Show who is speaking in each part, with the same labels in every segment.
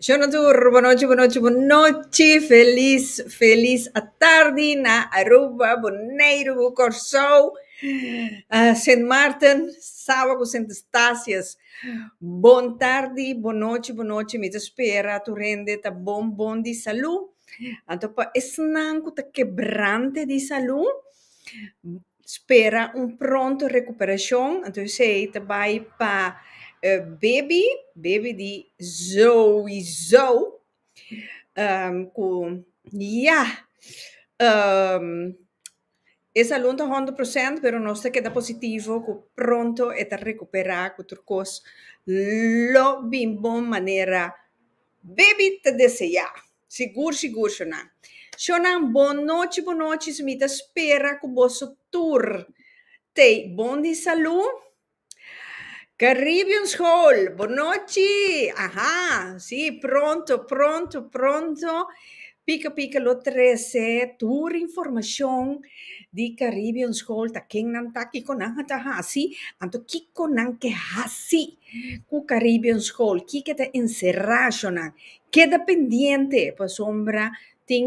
Speaker 1: Shonodur, bonochi, bonochi, bonochi. Feliz, feliz atardi na Aruba, Boneiru ku Kòrsou. Sint Maarten, Saba ku Sint Eustatius. Bon tardi, bon nochi, bon nochi, mi ta spera tur hende ta bon bon di salú. Anto pa esnan ku ta kebrante di salú, spera un pronto rekuperashon. Anto esei ta bai pa e bebi, bebi di Zoey Zou, ku yah, E salun ta hòndre prosènt, pero nos ta keda positivo ku pronto e ta rekuperá ku tur kos lo bin bon manera Baby ta deseá. Sigur sigur shonnan. Shonnan bonochi bonochi, mi ta spera ku boso tur tei bon di salú. Caribbean School, bonochi! Aha, sí, pronto, pronto, pronto, pika pika lo trece tur informacion di Caribbean School, ta kennan ta, kiko nan a ta hasi, anto kiko nan ke hasi ku Caribbean School, kiko ta encerrá ashonan. Keda pendiente, pasobra tin.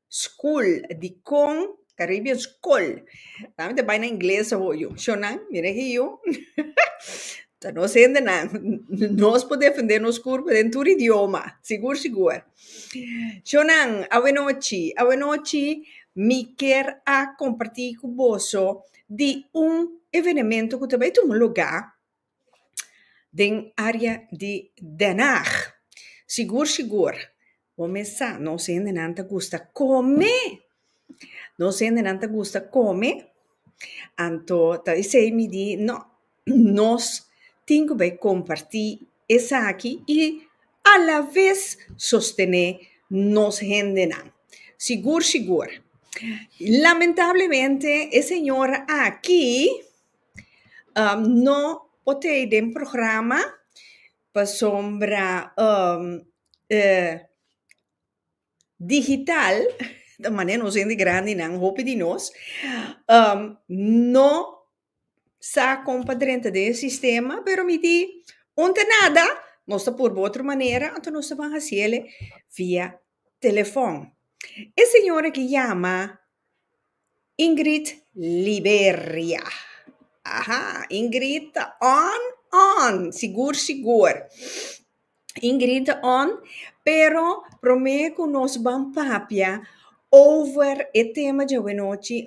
Speaker 1: School, dikon ta ribia un skol? Dame te bai na ingles awo yu, shonnan, mira aki yu, ta nos hendenan, nos por defende nos kurpo den tur idioma, sigur sigur. Shonnan, awenochi, awenochi, mi ker a komparti ku boso di un evenemento ku ta bai tuma lugá. den área di Den Haag. Sigur sigur, bo mes sa, nos hendenan ta gusta kome, nos hendenan ta gusta kome, anto ta esei mi di, no, nos tin ku bai kompartí esaki i alabes sostené nos hendenan. Sigur sigur. Lamentablemente, e señora aki, No por te den programa pasobra e digital, ta manera nos hende grandinan, hopi di nos no sa kon pa drenta den e sistema, pero mi di unde nada, nos ta por bo otro manera, anto nos ta ban hasiel via telefòn. E señora ki yama Ingrid Liberia. Aha, Ingrid ta on, on, sigur, sigur. Ingrid ta on, pero promé ku nos ban papia over e tema djawenochi,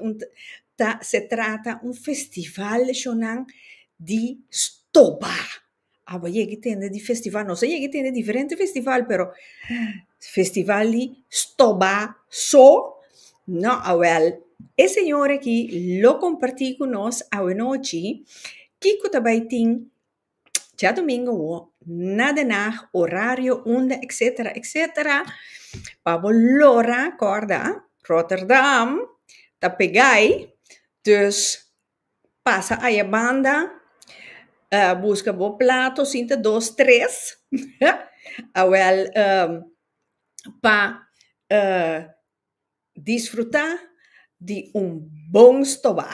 Speaker 1: ta, se trata un festival shonang di stoba. Abo yeg'i tende di festival nos a yeg'i tende diferente festival pero festival di stobá so no awèl e señor aki lo kompartí ku nos awanochi kiko ta bai tin djadumingu awó na de nag orario unda etsetera etsetera pa bo lora kòrda Roterdam ta peg'ai dus. Pasa aye banda, buska bo plato sin ta dos tres, awel pa disfruta di un bon stoba,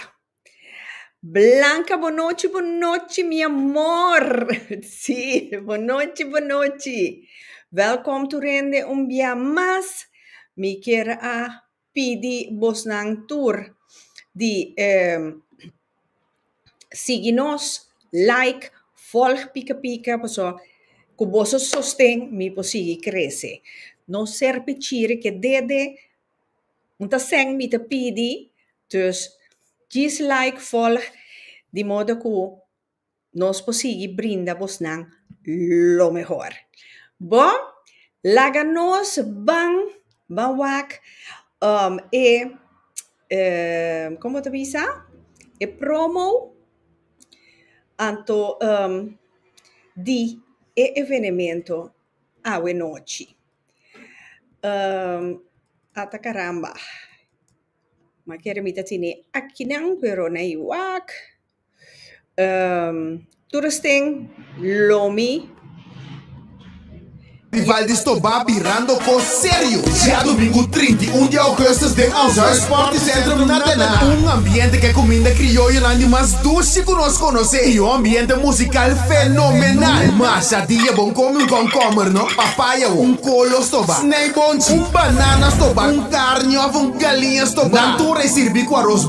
Speaker 1: blanca bo nochi bo nochi mi amor, si bo nochi bo nochi, welcome to rende un bia mas, mi kier a. pidi bosnan tur di sigui nos, like, volg pika pika paso cu boso sosten mi por sigui crece. No ser pichiri ke dede un ta send mi ta pidi, dus gis like, volg di modo cu. Nos por sigui brinda bosnan lo mehor. Bo, laga nos ban, ban wak um e, e, kon bo ta bisa? E promo anto um di e evenemento awe nochi. Um ata caramba, ma kere mi ta tene akinan pero no hay wak. tur es tin lomi. Di Valdis to ba birando cos serio. Dia domingo trinta i un di augustus den ons huis Sporty Centrum na tene un ambiente cu e cuminda crioyonan di mas dushi cu nos conoce y un ambiente musical fenomenal. Masha dia bon come un komkommer no, papaya o, un colo stoba, snijboontje, un banana stoba, un carne of un galiña stoba. Nan tur a sirbi cu aros.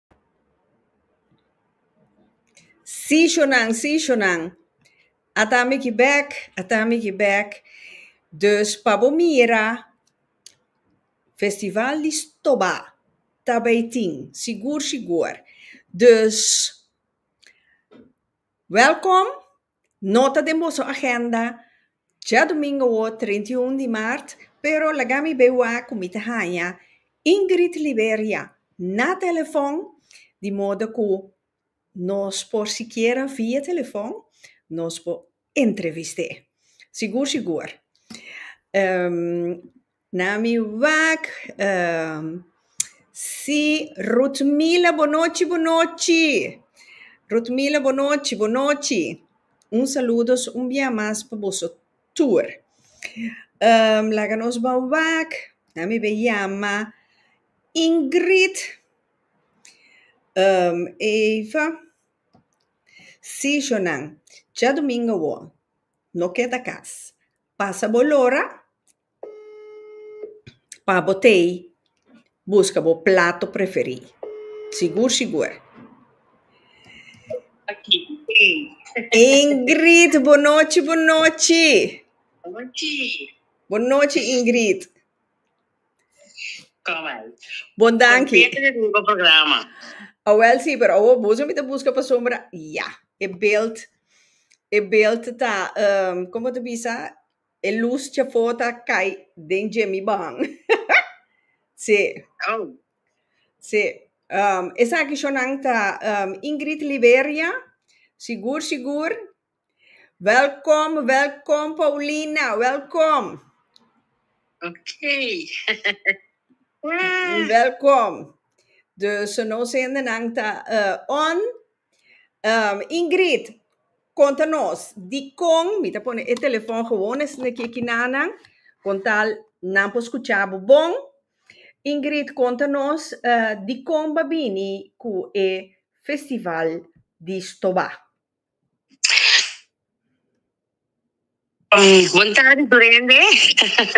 Speaker 1: Seasonnan, seasonnan. A ta miki bèk, a ta miki bèk. Dus pa bo mira, Festival di Stobá ta bay tin, sigur sigur. Dus, wèlkòm! Nota den boso agenda, Djadomingowo treinta i un di maart, pero laga mi bay wak cu mi ta haña Ingrid Liberia na telefon, di modo cu nos por sikiera via telefon nos por entrevist'é. Sigur sigur. Na mi wak si Rutmila bo nochi bo nochi Rutmila bo nochi bo nochi un saludos un bia mas pa boso tur laga nos ba wak na mi be yama Ingrid eva si shonan djadumingu awo no keda kas pasa bo lora Pa bo tei, buska bo plato preferí. Sigur sigur. Ingrid, bo nochi, bo nochi. Bo nochi, Ingrid. Bon danki. Awel sí, pero awo boso mi ta buska pasobra, ya, e belt, e belt ta, um, como ta bisa? E luz dje fo ta cay den dje mi bahan. Sí. Au. Sí. Um, esaki shonan ta um, Ingrid Liberia. Sigur, sigur. Welkom, welkom Paulina, welkom. Ok. Wow. Welkom. Dus nos zendenan ta uh, on Ingrid, konta nos dikon mi ta pone e telefòn gewoon esei na kieki nannan, kon tal nan por skucha bo bon. Ingrid, konta nos dikon bo a bini ku e festival di Stobá. Bon tarde Durende.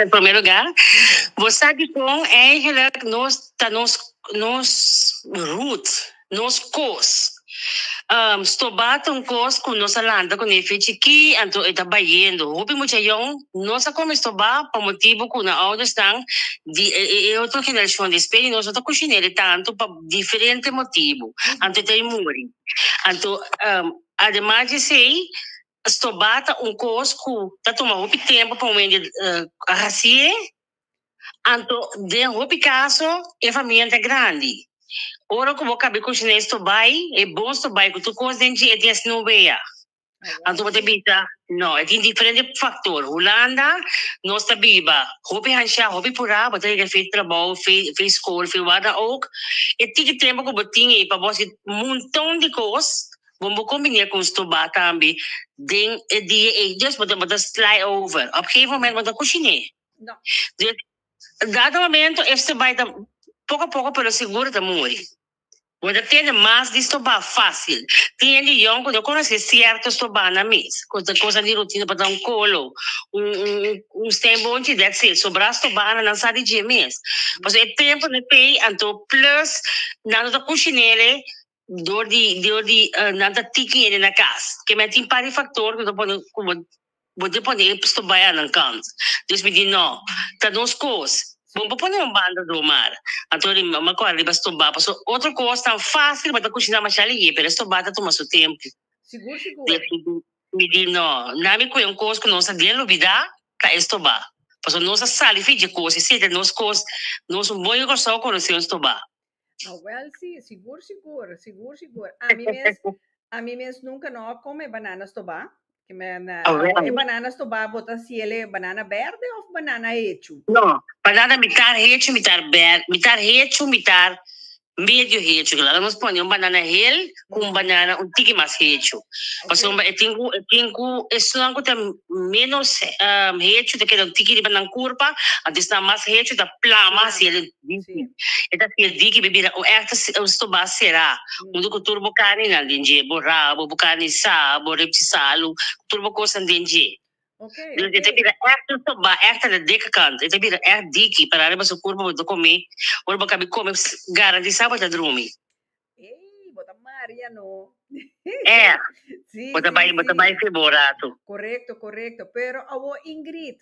Speaker 1: En primer lugar, bo sa dikon eigenlijk nos ta nos nos root, nos kos. Stobat un kos ku nos a lanta kuné fin chikí, anto e ta bayendo. Hopi muchayón no sa kome stobá pa motibu ku nan oudersnan di e e e otro generashon di spes di nos no ta kushine'e tantu pa diferente motibu, anto e ta e muri. Anto, ademas di esei, Stobá ta un kos ku ta tuma hopi tempu pa un hende a hasié. Anto den hopi kaso e faminta grandi. Ora ku bo kabe kushiné stobá ei, e bon stobá ei ku tur kos den dje e tin asina un wea. Anto bo ta bisa, No, e tin diferente faktor. Hulanda nos ta biba hopi hanshá, hopi purá, bo ta yega fe trabou, fe fe skol, fe wada ook. E tiki tempu ku bo tin ei pa bo hasi un monton di kos, Bon bo combiné con stobá tambe den e dia ey dus bo ta bo ta sly over op gegeven momento bo ta cociné dus dado momento e stobá ta poco a poco pero seguro ta muri bo ta tene mas di stobá facil tin hende yòn cu no conoce cierto stobá nan mes cu ta cosa di rutina pa ta un colo un un steenboontje that's it sobra stobá nan sa di dje mes pasobra e tempo n'e pay anto plus nan no ta cociné ley Dor di dor di nan ta tiki ene na kas. Ke men tin par di faktor ku ta pone ku bo bo di pone e stobay anan kant. Dus mi di no, ta nos kos. Bo por pone un banda do mar. Anto ri mi makor ariba stobá paso otro kos tan fásil bo ta kushiná mashá lihé pero e stobá ta tuma su tempu. Dus mi di mi di no, nan mi kue un kos ku nos a den lubidá, ta e stobá. Paso nos a sali fi dje kos i si ta nos kos, nos un bon i Kòrsou a konosé un stobá. Awel si, sigur sigur, sigur sigur. Ami mes, ami mes nunca no a come banana stobá. Que me na, Awel. e banana stobá bota ciele banana verde of banana hecho. No, banana mitar hecho, mitar ber, mitar hecho, mitar medio hecho. Claro, lo hemos pone un banana hel con un banana un tiki mas hecho. Paso e tin cu, e tin cu, e snan cu ta menos um, hecho ta queda un tiki riba nan curpa, antes na mas hecho ta plama, así el Dici, E ta sier di ki bo bira un erte stobá será, huntu ku tur bo karninan den dje, bo rabo, bo karni sa, bo reptisalnan, ku tur bo kosnan den dje. Dues e ta bira erte stobá, erte na deka kant. E ta bira erte di ki, paráriba su kurpa bo ta komé, ora bo kabi komé, garantisá bo ta drumi. Ey, bo ta Maria no. Eh, sí, bo ta bai, sí, bo ta sí. bai feborato. Correcto, correcto. Pero awo Ingrid,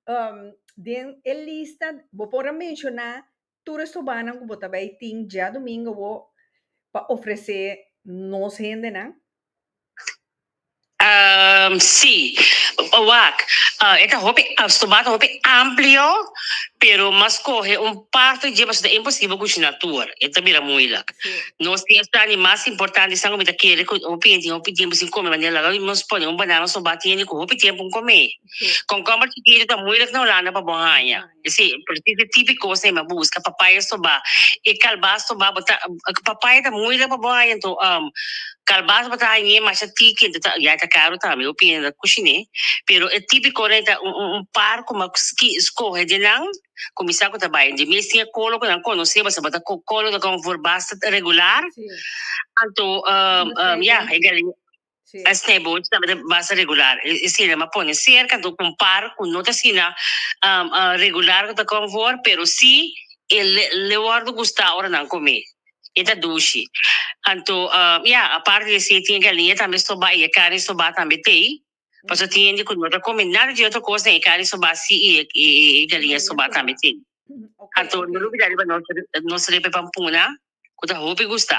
Speaker 1: um, den e lista bo por a menciona tur restobanan cu bo ta bai tin djadomingo awo pa ofrece nos hendenan? Ehm, sí. Wak, ah, e ta hopi, ah, stobá ta hopi amplio, pero mas coge un parte dje pasobra ta imposible cushina tur. E ta bira moeilijk. Sí. Nos tin esnan di mas importante esnan cu mi ta kere cu hopi hende tin hopi tiempo sin come manera laga nos pone un banana stobá tin hende cu hopi tiempo un come. Sí. Concomber chikito ta moeilijk na Holanda pa bo haña. Sí, precies e tipo cos ey m'a busca, papaya soba, e calbas soba bo ta, papaya ta moeilijk pa bo haya, enton um calbas bo ta hañ'é masha tiki, enton ta, ya ta caro tambe, bo piensa ta cuchin'é, pero e tipico ey ta un un un par cu m'a ski scoge den nan, cu mi sa cu ta bay, den mes tin e colo cu nan conoce, pasobra bo ta co colo ta conforba, regular, anto um um ya e gallina. E snijbootjes tabata basta regular, e esina m'a pone cerca, enton compar cu no ta asina regular cu ta come for, pero si e le wordo gusta ora nan come, e ta dushi. Anto ya, aparte di esi e tin e galinha tambe stobá y e carni stobá tambe t'ey, pasobra tin hende cu no ta come nada di otro cos den e carni stobá si y e galinha stobá tambe t'ey. Anto no lo bida riba nos, nos repe pampuna cu ta hopi gusta.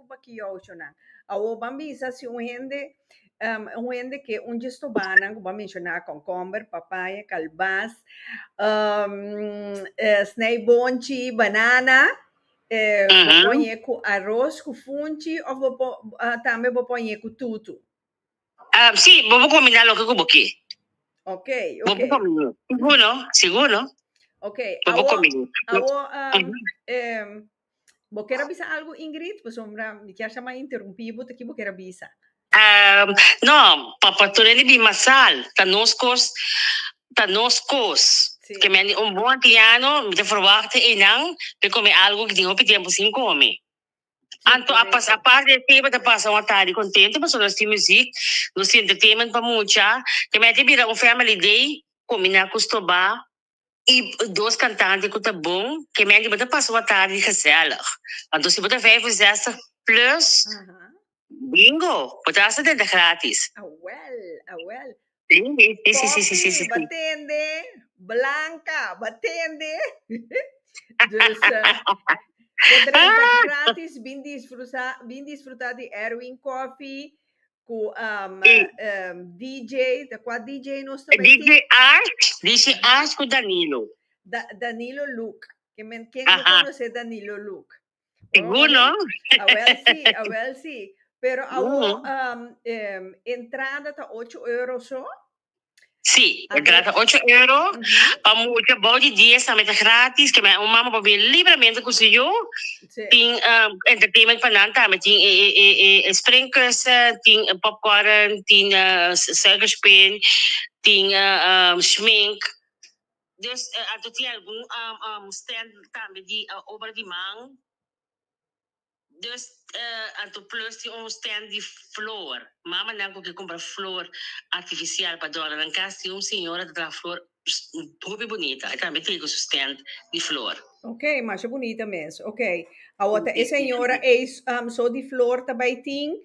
Speaker 1: preocupa cu youshonan. Awor ban bisa si un hende, un hende ke un dje stobanan, cu ban menciona concomber, papaya, calbas, snij bonchi, banana, bo pon e cu aros cu funchi of bo po, tambe bo pon e cu tutu? Si, bo por combina loke cu bo ke. Ok, ok. Bo por combina. Sigur no, sigur no. Ok, awor, awor, Bo kier a bisa algu Ingrid? Pasobra mi kier sa ma interumpi bo ta ki bo kier a bisa. Ehm, no, pa Portoren di bima sal ta nos kos, ta nos kos. Si. Ke men di un bon antiano mi ta ferwachta eynan me kome algu ke tin hopi tempu sin kome. Anto a pas, apart di e teba ta pasa un atadi kontentu pasobra nos tin muzik, nos tin entertainment pa mucha, ke men ta bira un family day, kumina ku stoba. y dos cantante cu ta bon que menti bo ta pasa un atardi gezellig anto si bo ta vijf y zestig plus bingo bo ta hasta denta gratis si. Ku um, e, um, DJ, ta kua DJ nos ta DJ Arch, DJ Arch ku Danilo. Da, Danilo Luke. Que men, ken no conoce Danilo Luke? Sigur, no? Awel sí, awel sí. Pero awo, um, um, entrada ta 8 euro so? Sí, e trata ocho euro. Pa mucha bou di dies tambe ta gratis, ke men un mama por bin libremente ku su yu. Sí. Tin um, entertainment pa nan tambe, tin e, e, e, e, e springkussen, tin eh, popcorn, tin uh, suikerspin, tin uh, um, schmink. Dus uh, ato tin algun um, um, stand tambe di uh, obra di man. Dus anto plus tin un stand di flor. Mamanan cu ke cumpra flor artificial pa dora nan cas tin un señora ta traha flor hopi bunita e tambe tege su stand di flor. Ok masha bunita mes. Ok awo ta e señora ey so di flor ta bay tin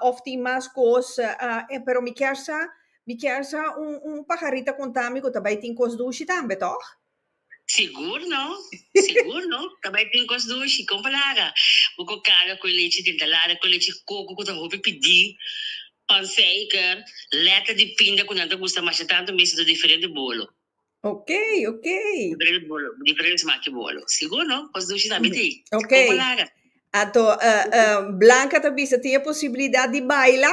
Speaker 1: of tin mas cos pero mi kier sa mi kier sa un un pajarita contami cu ta bay tin cos dushi tambe toch? Sigur no, sigur no. Ta bai tin cos dushi. Con palabra, bo cu carga cu e lechi den talada, cu e lechi coco cu ta hopi pidi, panseiker, leta di pinda cu nan ta gusta masha tanto mes do diferente bolo. Ok, ok. Diferente bolo, diferente smak di bolo. Sigur no, cos dushi tambe tin. Ok. Con palabra. Anto, eh, eh, Blanca ta bisa, tin e posibilidad di baila?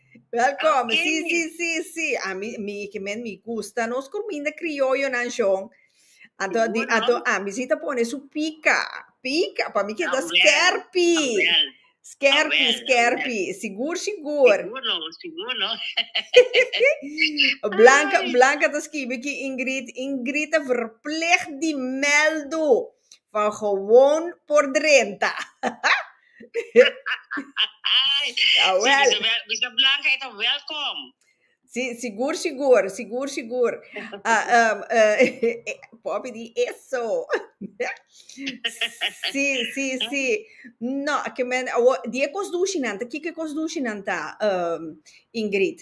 Speaker 1: Welkom. Okay, si, si, si, si. A mi, mi, que men mi gusta. Nos comida criollo nan John. Ato, Seguro. di, ato, a mi si te pone su pica. Pica. Pa mi que da skerpi. Skerpi, skerpi. Sigur, sigur. Seguro, seguro. Blanca, Ay. Blanca te escribe que Ingrid. Ingrid te verplicht di meldo. Van gewoon por drenta. Awel. Sí, Bisa Blanca e ta welkom. Sí, sigur, sigur, sigur, sigur. Ah, um, uh, Poppy di eso. sí, sí, sí. No, que men, awo, di e kos dushi nan ta, kiko e kos dushi nan ta, um, Ingrid?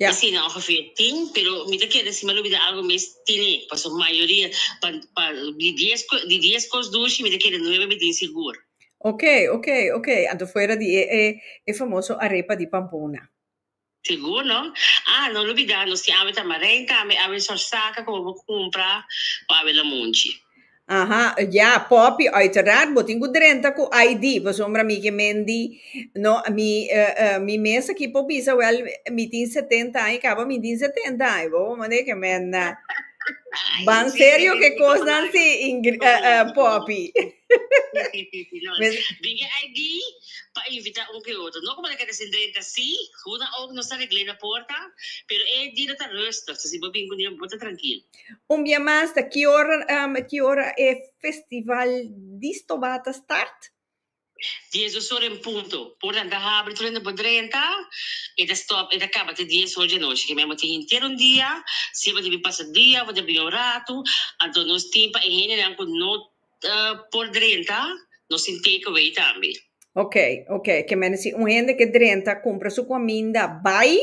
Speaker 1: Mi si na ongeveer tin, pero mi ta kere si mi a lubida algo mes tine, pasobra mayoria, pa, pa, di dies cos, di dies cos dushi mi ta kere nuebe mi tin sigur. Ok, ok, ok, anto fuera di e, e, e famoso arepa di Pampoona. Sigur no? Ah, no lubida nos tin awe tamaren tambe, awe sor saca cu bo bo cumpra pa awe lamunchi. Aha, ya, Poppy, uiteraard, bo tin cu drenta cu ID, pasobra mi ke men di, no, mi, eh, eh, mi mes aki por bisa, wel, mi tin setenta aña, caba mi tin setenta aña, bo bo mende ke men, eh, ban serio ke cosnan si, Ingri-, eh, eh, Poppy. No, es tin ke ID pa invita un ku e otro, no como ta keda sin drenta, si, hunan ook nos ta regl'e na porta, pero e di lo ta rustig, so si bo bin ku niun, bo ta trankil. Un bia mas ta ki ora ki ora e festival di stobá ta start? Dies dos ora en punto. Portan ta habri tur hende por drenta. E ta stop e ta kaba te dies ora di anochi. Kimen bo tin henter un dia, si bo ta bin pasa dia of bo ta bin un ratu, anto nos tin pa e hendenan ku no ta por drenta, nos tin take away tambe. Oke, oke, kimen si un hende ke drenta kumpra su kuminda bai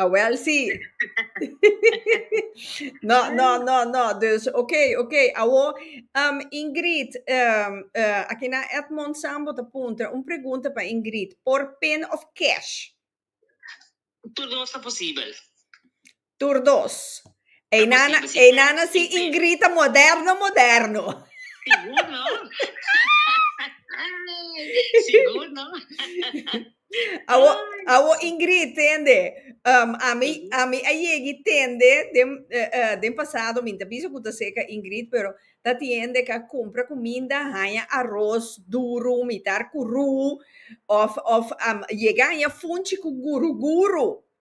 Speaker 1: Awel ah, sí. no, no, no, no. Dus, oké, okay, oké. Okay. Awo, um, Ingrid, um, uh, aki na Edmond Sambo te punta, un pregunta pa Ingrid. Por pin of cash? Tur dos ta posibel. Tur dos. Ei nana, ei nana si ingrita moderno moderno. Sigur no. Sigur no. awo awo ingrit tende. Um, ami ami a yegi tende den uh, uh, den pasado minta bisa kuta seka ingrit pero ta tiende ka compra kuminda haya arroz duro mitar kuru of of um, yega haya funchi ku guru guru.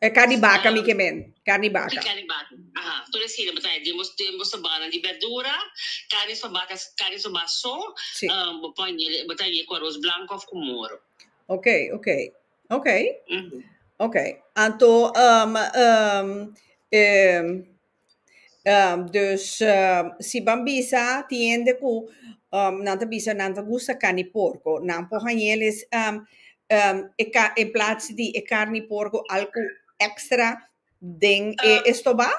Speaker 1: E carne di baca mi ke men, carne di baca. Di carne di baca. Aha, tur e sina bo trae den bo den bo sobanan di berdura, carne soba ta carne soba so, Sí. ah, bo pon yele, bo ta ye ku aros blanco of ku moro. Ok, ok, ok, Mhm. ok. Anto, um, um, em, Um, dus um, si ban bisa tin hende ku um nan ta bisa nan ta gusta karni porko, nan por hañel es um um e ka en plats di e karni porko al ku èkstra den e estobá?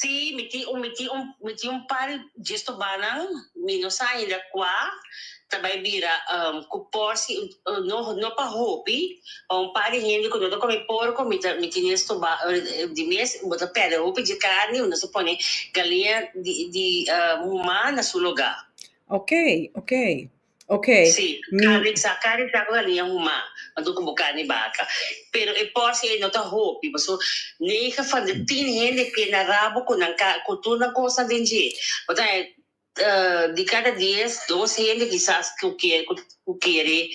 Speaker 1: Sí, mi tin un mi tin un mi tin un par di estobánan, mi no sa ainda kua, ta bai bira cu porci no pa hopi pa un par di hende cu no ta comi porco mi ta mi tene estoba di mes bo ta perde hopi dje carni nos a pone galinha di muma na su loga ok ok ok si carni sa carni sa cu galinha muma ma tur cu bo carni baca pero e porci ey no ta hopi pasobra nega fan tin hende pena rabo cu nan cu tur nan cosa den dje bo ta. Di kada dies, dos hende kisas ku kier ku kere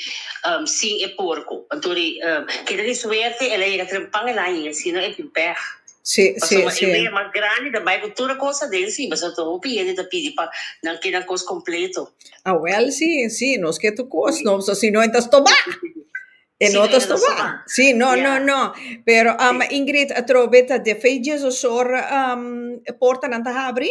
Speaker 1: sin e porko. Anto di keda di suerte el a yega tren pan el a hie, si no e tin pèg. Pasobra e wea mas grandi ta bai ku tur e kos aden si, pasobra ta hopi hende ta pidi pa nan keda kos kompleto. Awèl si, si nos ke tur kos no, pasobra si no e ta stobá, e no ta stobá. Si, no, no, no. Pero Ingrid, atrobe ta defeitjesosor portanan ta habri?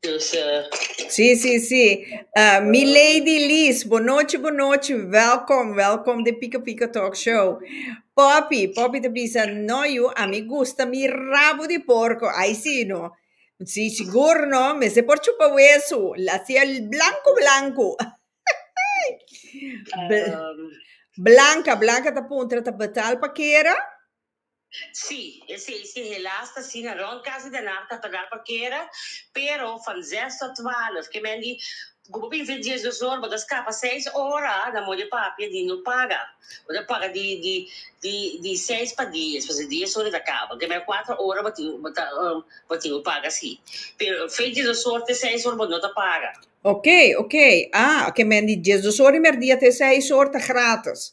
Speaker 1: Dus eh, Sí, sí, sí. Ah, Milady Lies, boa noite, boa noite. Welkom, welkom de Pika Pika Talk Show. Poppy, Poppy te bisa, no, you, a mi gusta mi rabo di porco. Ay, sí, no. Sí, sigur, no. Me se por chupa wesu. La sia blanco, blanco. Bl- um, Blanca, Blanca ta puntra, ta betal pa kera? Sí, esei si helaas ta asina. Rond casi den nar ta pagar pa kera, pero van zes tot twaalf, ke men di ku bo bin vin dies dos ora, bo ta skapa seis ora na mor di papia di no paga. Bo ta paga di di di di seis pa dies, pasobra dies ora ta kaba. Ke men kuater ora bo tin bo ta bo tin ku paga así. Pero fen dies dos ora te seis ora bo no ta paga. Oké, oké. Ah, ke men di dies dos ora di merdia te seis ora ta gratis.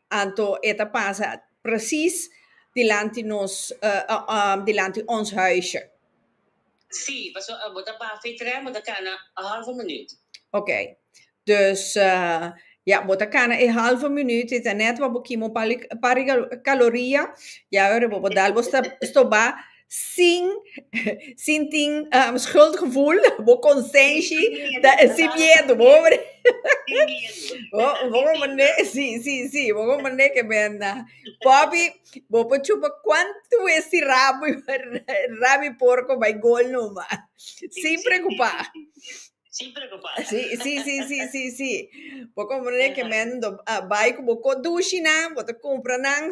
Speaker 1: Anto e ta pasa presis dilanti nos, dilanti ons huisje. Sí, pasobra abo ta pa fe trè, bo ta kana e hàlve minuut. Ok. Dus, ya, bo ta kana e hàlve minuut i ta nèt wak bo kima un par di kaloria, ya, ora bo bo dal bo stobá, sin sin tin um, schuldgevoel, bo conscientie, Sin miedo, ta, sin trabajo miedo, con bo miedo. hombre. Sin miedo. Bo, Esa bo sin mane, miedo. sí, sí, sí, bo mane que ben na. Papi, bo pa chupa cuánto es si rabo, rabo y porco by gol no ma. Sí, Sin sí, preocupá. sí, sí, sí, sí. Sin preocupá. Sí, sí, sí, sí, sí, sí. Bo mane que Ajá. men do, ah, bay cu bo co dushi nan, bo te compra nan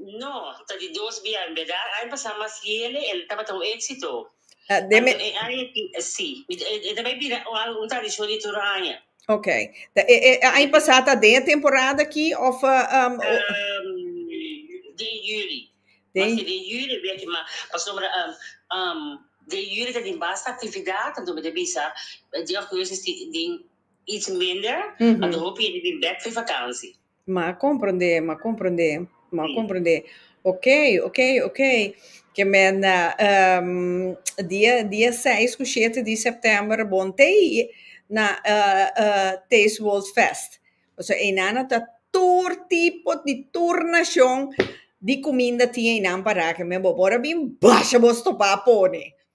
Speaker 1: No, ta di dos bia en berdad, ai pasa mas yele el tabata un exito. Ah, deme, Anto e ai pi- eh, sí, mi- eh, eh, ta bai bira o algo un tradición di tur aña. ok. Ta, e, e, ai pasá ta den e temporada aki of eh, um, o- Ehm, den juli. Den- Mas ke den juli bia ki ma pasobra ehm, ehm, den juli ta tin basta actividad, anto mi ta bisa eh, di augustus tin, tin iets minder, Mhm. anto hopi yende bin bek for vakantie. M'a komprondé, m'a komprondé, m'a komprondé. Ok, ok, ok. Kemènda dia dia seis ku shete di sèptèmber bon te na Taste World Fest. Pasobra einan a ta tur tipo di tur nashon di kuminda tin einan pará. Kemèn bo por a bin basha bo stopá pone.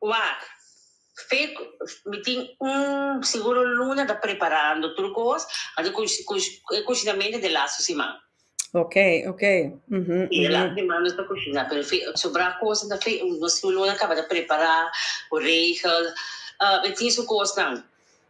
Speaker 1: Waak, fe cu mi tin un siguro luna ta preparando tur cos pa ta e cuchinamento den laatste siman. Ok, ok. Mhm, Si, den laatste siman nos ta cuchina, pero fe sobra cos ta fe nos siguro luna caba ta prepara cu regel, mi tin su cosnan.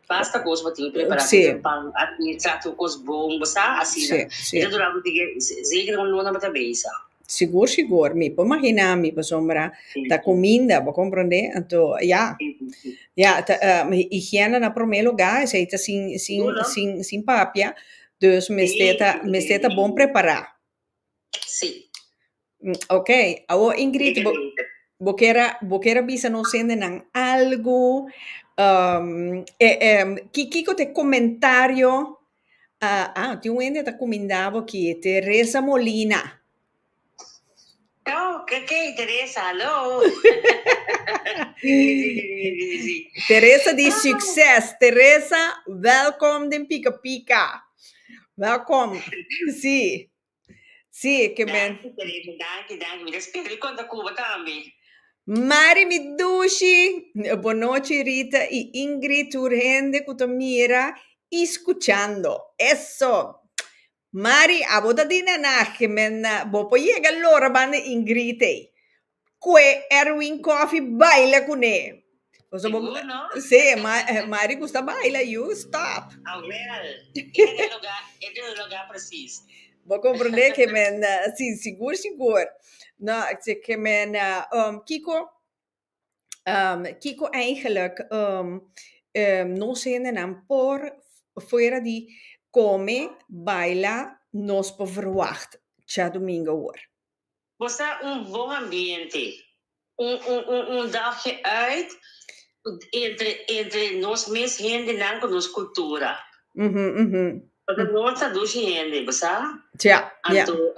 Speaker 1: Basta cos bo tin prepará sí. tin pan aki tratu cos bon bo sa asina sí, sí. e ta dura bo tige zeker un luna bo ta besa sigur sigur mi por imagina mi pasobra sí, ta cominda bo comprende anto ya sí, sí, ya ta, um, higiene na primer lugar esei ta sin sin sin sin papia dus mester ta mester ta bon prepará Sí. Mm, ok, awor Ingrid, bo, bo, kera, bo kera bisa nos hendenan algo, um, eh, eh, ki, kiko te comentario, uh, ah, ti un hende ta comendabo ki te Reza Molina. Tau, ke kei Teresa, hallo! Teresa di succes! Teresa, welkom den Pika Pika! Welkom! Si, si, ke men. Danki Teresa, danki, danki. Mi ta spera di konta Cuba tambe. Mari mi dushi! Bon nochi Rita i Ingrid, tur hende ku ta mira i skuchando. Eso! Mari, abo ta di nanahke men, bo por yega lora banda Ingrid ey. Kue Erwin Koffie baila cune. Sigur no? Sí, Mari gusta a baila, yu, stop. Awel, e ta den lugar, e ta den lugar precies. Bo comprende ke men, sí, sigur, sigur. No, ke men, um, kiko? kiko eigenlijk nos hendenan por fuera di kome, baila nos por verwagt Tjadomingo hoor? Bo sa un bon ambiente, un dagje uit entre nos mes hendenan ku nos kultura. Pasobra no ta dushi hende, bo sa? Tja, ja. Anto,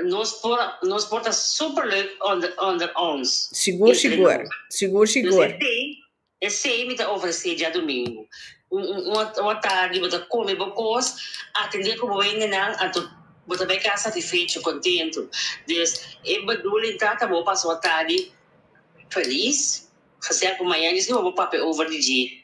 Speaker 1: nos por, nos por ta super leuk onder, onder ons. Sigur, entre sigur. nos. Sigur, sigur. Dus esei, esei mi ta ofresé djadumingu. Un, un, un, un atardi bo ta kome bo kos, atendé ku bo wendenan, anto bo ta bai kas satifecho, kontentu. Dus, e bedoeling ta ta bo pasa un atardi felis, gesel ku mañan dje si bo bo papia over di dje.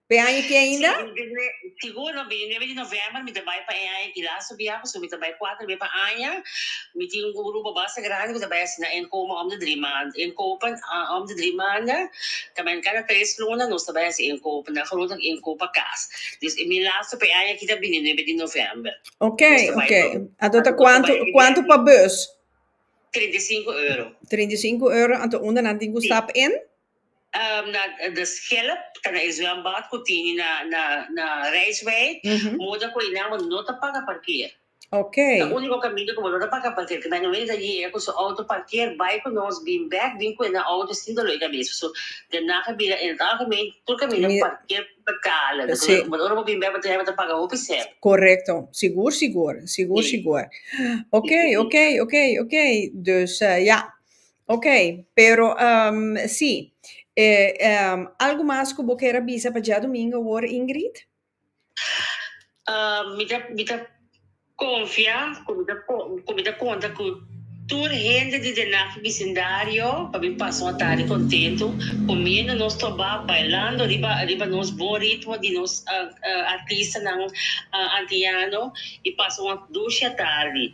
Speaker 1: P'e aña aki ainda? Sigur, no bini nuebe di novèmber, mi ta bai pa e aña aki lastu bia, pasobra mi ta bai kuater be pa aña. Mi tin un grupo basta grandi ku ta bai asina en koma om di dri manda, en kopen om di dri manda, ta men kada tres luna nos ta bai hasi en kopen, nan gerote tak en kopa kas. Dus mi lastu p'e aña aki ta bini nuebe di novèmber. Ok, ok, anto ta kuantu, kuantu pa bus? Trinta i sinku euro. Trinta i sinku euro, anto unda nan tin ku stap en? na de schelp ta na e zwembad cu tin na na rijswei moda cu enan bo no ta paga parkeer okay ta unico caminda cu bo no ta paga parkeer ta nan wende ta yega cu su auto parkeer bay cu nos bin back bin cu enan auto sin dolor de cabeza so den naga a bira en het algemeen tur caminda parkeer betalen but ora bo bin back bo ta hebe ta paga hopi cent correcto sigur sigur sigur sigur okay okay okay okay dus ja. Ok, pero si, algu mas ku bo ker a bisa pa djadumingu awor Ingrid? Mi ta konfia ku mi ta ku mi ta konta ku tur hende di den ak bisindario pa mi pasa un atari kontentu kumiendo nos tobá, bailando ariba ariba nos bon ritmo di nos artistanan antiano i pasa un dushi atardi.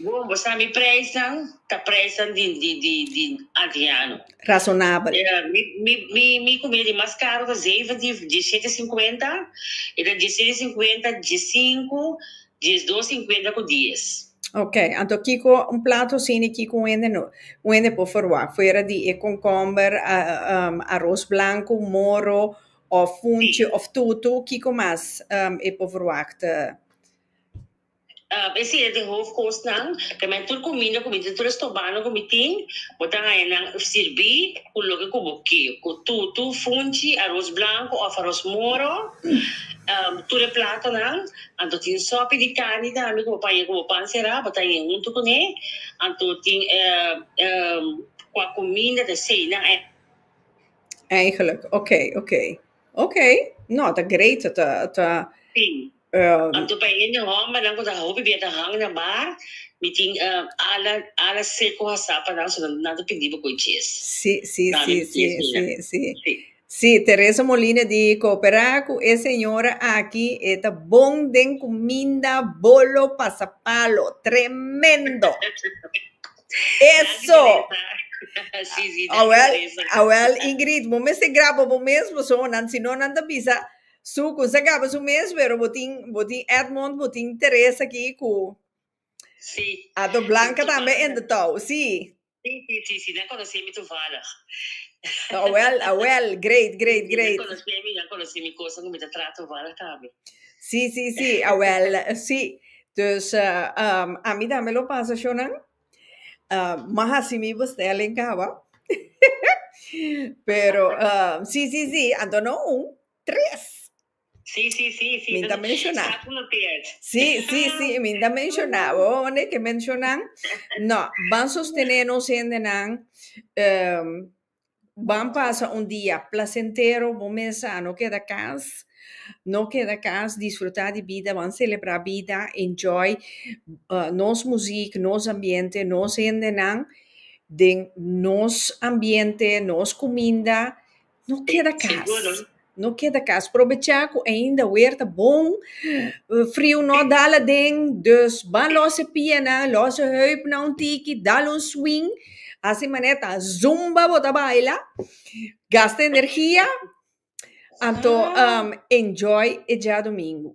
Speaker 1: Bon, bo sa mi preisnan ta preisnan di di di di antiano. Razonabel. Eh, mi mi mi mi comida di mas caro ta zeven di diesisiete e cincuenta, e ta diesisiete e cincuenta, diescinco, diesdos cincuenta cu dies. Ok, anto kico un plato asina kico un hende no un hende por verwa fuera di e concomber, ah, ehm, aros blanco, moro of funchi Si. of tutu kico mas, ehm, e por verwa te. Esi e di hofkosnan, tambe tur kuminda ku mi tin, tur estobando ku mi tin, bo ta haña nan sirbi ku loke ku bo ke, ku tutu, funchi, aros blanku òf aros moro, tur e platonan, anto tin sòpi di karni tambe ku bo paña ku bo pan será, bo ta haña huntu kuné, anto tin kua kuminda, te seinan. Eigenlijk, oké, oké. Ok, no, ta great, ta, ta, ta, Si. eh, Anto pa e hende hòmbernan ku ta hopi bia ta hang na bar, mi tin eh, ala ala seko hasá pa nan, so nan nan ta pidi bo koe ches. si, si, Nan si, mi si, ches si, mira. si. Si. Si, Teresa Molina di koperá ku e señora aki, e ta bon den kuminda, bolo, pasapalo, tremendo! Eso! sí, sí, Awel, awel, Ingrid, bo mester graba bo mesmo so, nan, si no nan ta bisa su kun sa graba su mes, pero bo tin, bo tin Edmond, bo tin Teresa aki ku Sí. Ato Blanca tambe in the touw, sí. Sí, sí, sí, sí, nan konosé mi tuvallig. Awel, awel, great, great, Sí, nan great. konosé mi, nan konosé mi kosa ku mi ta traha tuvallig tambe. Sí, sí, sí, awel, sí. Dus, ami tambe lo pasa shornan. Mas hasi mi bestelling kawa. Pero, sí, sí, sí, anto no un, tres! Sí, sí, sí, sí, mi ta menshona. Sí, sí, sí, mi ta menshona. Bo hounde ke menshonan? No, ban sostené nos hendenan. Ban pasa un dia plasentero bo mes a no keda kas no keda kas disfruta di bida ban celebra bida enjoy nos muziek nos ambiente nos hendenan den nos ambiente nos cuminda no keda kas No keda kas probechá ku ainda wer ta bon, friu no a dal aden, dus ban lòs e pianan, lòs e hèupnan un tiki, dal un swing, hasi manera ta zumba bo ta baila, gasta energia, anto enjoy e diadomingu.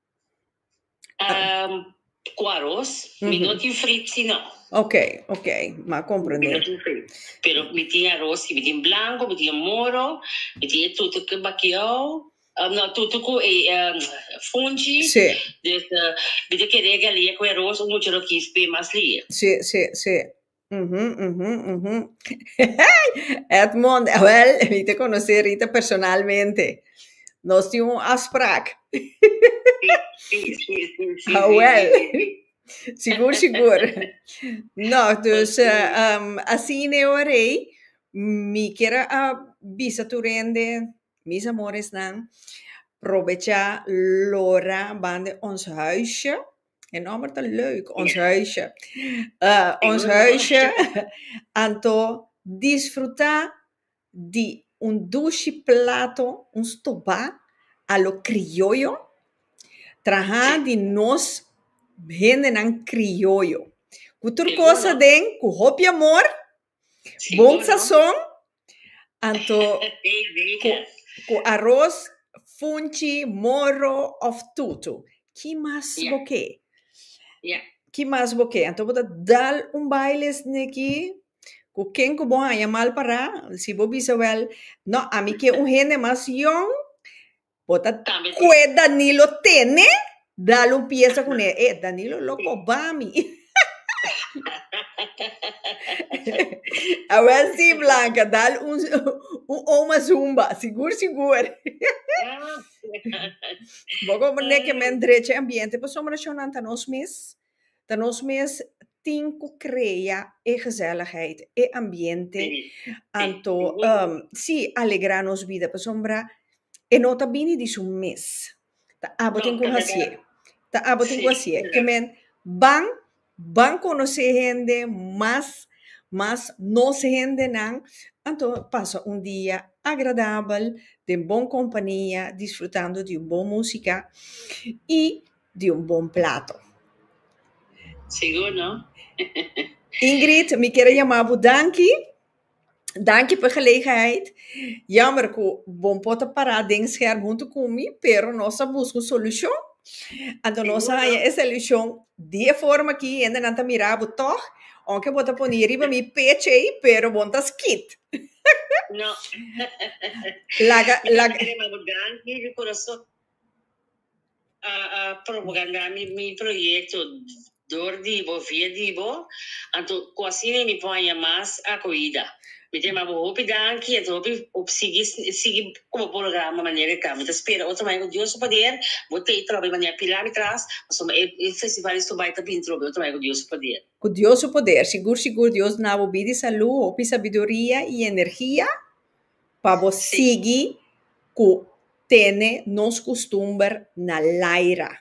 Speaker 1: Ehm, ku aros. Mi no tin frit si no. Ok, ok, m'a Mi komprendé. no tin frit. Pero mi tin aros si. Mi tin blanko, mi tin e moro, mi tin e tutu ku bakiou, ehm, no, tutu ku e, ehm, funchi. Sí. Dus, eh, mi ta kere galia ku e aros un mucha lo kis p'e mas lie. Sí, sí, sí. Uhumm, uhumm, uhumm. Edmond, wèl, mi ta konosé Rita personalmente. Nos tin un afsprak. Awèl, sigur, sigur. Nò, dus asina ora ei mi kier a bisa tur hende, mis amoresnan, probechá lorá banda ons huisje. E nòmber ta leuk, Ons Huisje. Ons Huisje, anto disfrutá di un dushi plato, un stobá a lo krioyo, trahá di nos hendenan krioyo, ku tur kos aden, ku hopi amor, bon sasòn. Anto cu aros, funchi, morro of tutu. Ki mas bo ke? Ki mas bo ke? Anto bo ta dal un baile esne ki cu ken cu bo haña mal para. Si bo bisa wel, no, ami ke un hende mas yong. Bo ta kue Danilo tene? Dal un pieza cune. E Danilo lo coba mi. A wel si Blanca, dal un un oma zumba, sigur sigur. Bo coba ne ke men drecha e ambiente pasobra nan ta nos mes. Ta nos mes tin cu crea e gezelligheid, e ambiente, anto si alegra nos bida pasobra e no ta bini di su mes. Ta abo tin cu haci'e. Ta abo tin cu haci'e. Ke men ban, ban conoce hende mas, mas nos hendenan, anto pasa un dia agradabel den bon compania disfrutando di un bon musica y. di un bon plato. Sigur no. Ingrid, mi kier a yama bo danki. Danki pa e gelegenheid. Jammer ku bo por ta para den scherm huntu ku mi, pero nos a buska un solushon. Anto nos a haña e solushon di e forma aki, hendenan ta mira bo tòg, ounke bo ta pone riba mi peche, pero bo no ta skit. No. Laga, laga. Mi ta kere yama bo danki di kurason. A a propagandá mi mi proyekto dor di bo, via di bo, anto ku asina mi por haña mas akohida. Mi ta yama bo hopi danki, anto hopi hopi sigui sigui ku bo programa manera e ta. Mi ta spera otro mai ku Dios su poder bo tei trobe i manera pilá mi tras, pasobra mi e e festival di Subai ta bini trobe otro mai ku Dios su poder. Ku Dios su poder, sigur sigur Dios na bo bidi salú, hopi sabiduria i energia. Pa bo sigui cu tene nos custumber na Laira.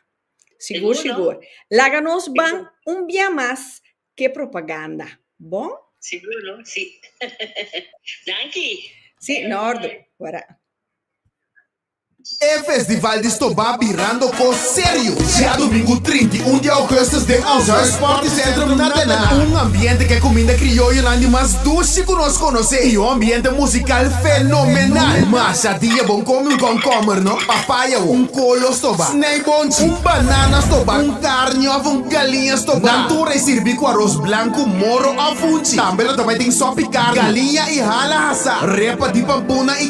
Speaker 1: Sigur sigur. Laga nos ban un bia mas c'e propaganda. Bon? Sigur no? Si. Danki! Si, n'ordu. Wara. E festival di stobá birando kos serio. Diadomingu trinta i un di ougùstus den ons Huis Sportecentrum na tene un ambiente ku e kuminda krioyonan di mas dushi ku nos konosé i un ambiente musikal fenomenal. Masha dia bon komi un kònkomber no, papaya wou, un kolo stobá, sneibonchi, un banana stobá, un karni òf un galiña stobá. Nan tur e sirbi ku aros blanku, moro òf hunchi. Tambe lo ta bai den sòp i karni, galiña i hala hasá, repa di pampunan i.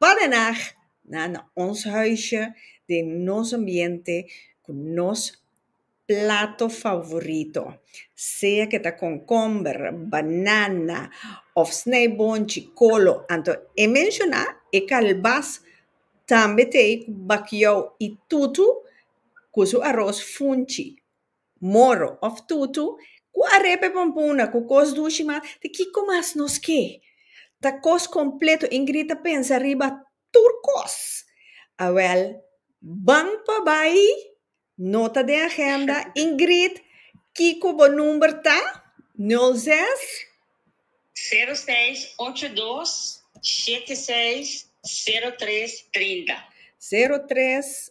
Speaker 1: Pa de nag na na ons huisje, den nos ambiente, ku nos plato favorito. Sea ku ta konkomber, banana òf snijbonchi, kolo. Anto e menshoná e kalbas tambe t'ei ku bakiou i tutu ku su aros funchi. Moro, of tutu, ku a repe pompuna ku kos dushi mas, ta kiko mas nos ke? Ta kos kompleto. Ingrid ta pensa riba tur kos. Awèl, Ban pa bai, nota den agenda, Ingrid, kiko bo number ta? Nul zes. Sero seis ocho dos shete seis sero tres trinta. Sero tres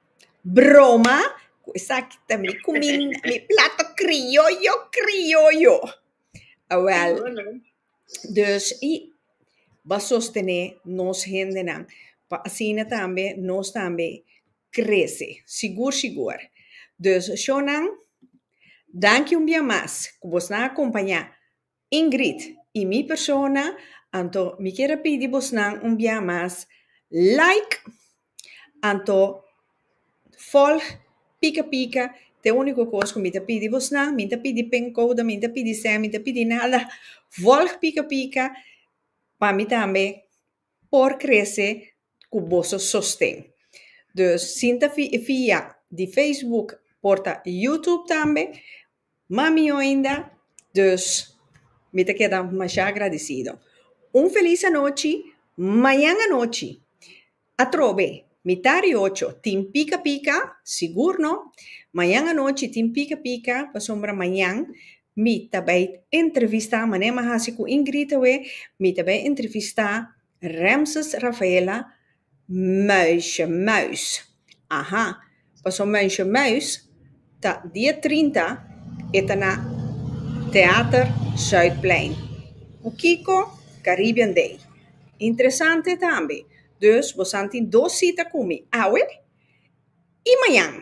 Speaker 1: Broma cu esaki ta mi cu mi mi plato criollo criollo. Awel, dus y ba sostene nos hendenan pa asina tambe nos tambe crece sigur sigur. Dus Shownan, danki un bia mas cu bo a acompaña. Ingrid y mi persona, anto mi kier a pidi bosnan un bia mas like, anto volg pika pika, te unico cos cu mi ta pidi bosnan, mi ta pidi pencoda, mi ta pidi sea, mi ta pidi nada, volg pika pika pa mi tambe. por krese ku boso sosten. Dus sin ta fia di Facebook por ta YouTube tambe, ma mihó ainda. Dus mi ta keda mashá agradisido. Un felis anochi, mañan anochi atrobe mi ta riocho tin pika pika, sigur no, mañan anochi tin pika pika pasobra mañan Mi ta bai entrevistá, mané mi a hasi ku Ingrid awe, mi ta bai entrevistá Remses Rafaela Muisje Muis. Aha, paso Muisje Muis ta dia trinta e ta na Teater Zuidplein ku kiko? Caribbean Day. Interesante tambe. Dus bosan tin dos sita ku mi, awe i mañan.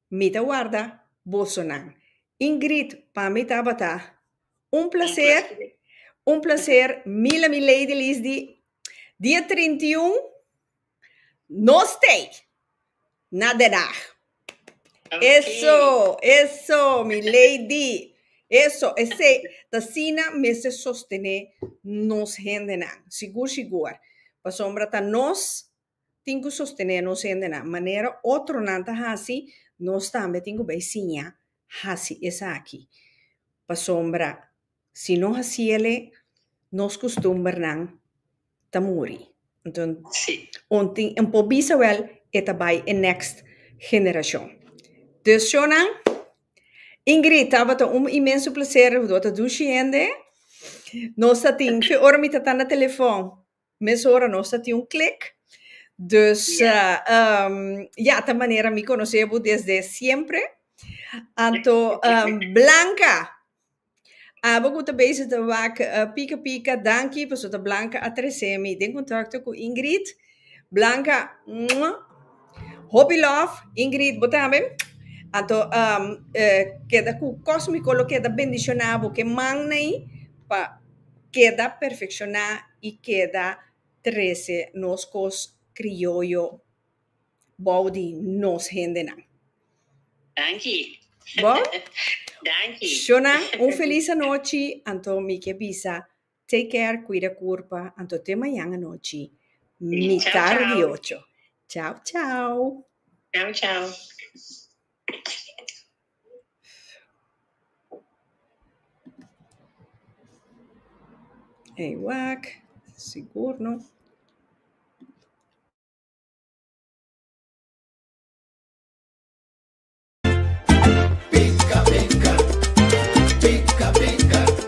Speaker 1: Mi ta warda bosonan. Ingrid, Pa mi tabata un placer, un placer mil a mi lady lis di dia trinta i un no stay na Den Haag. Eso, eso mi lady, eso esey t'asina mester sostene nos hendenan sigur sigur pasobra ta nos Tin ku sostené nos hendenan manera otronan ta hasi, nos tambe tin ku bai siña hasi esaki. Pasobra si no hasi el'e, nos kustumbernan ta muri. Enton, un tin un por bisa wèl e ta bai e next generashon. Dus shownan, Ingrid, tabata un inmenso plaser. Bo ta dushi hende. Nos ta tin, fe ora mi tata na telefòn. Mes ora nos ta tin un klik. Dus ya, ta manera mi konosé bo desde siempre. Anto Blanca, abo ku ta bezig ta wak pika pika, danki paso ta Blanca a trese mi den kontakto ku Ingrid. Blanca, mua, hopi lòf. Ingrid, bo tambe. Anto keda ku kos mi kolo keda bendishoná bo ke mannan ei pa. Keda perfecciona y keda trece nos cos crioyo bao di nos hendenan. Danki. Bo? Danki. Shona, un feliz anochi, anto mi ke bisa take care, cuida curpa, anto te mañan anochi, mitar di ocho. Chao, chao. Chao, chao. Ei wak, sigur no.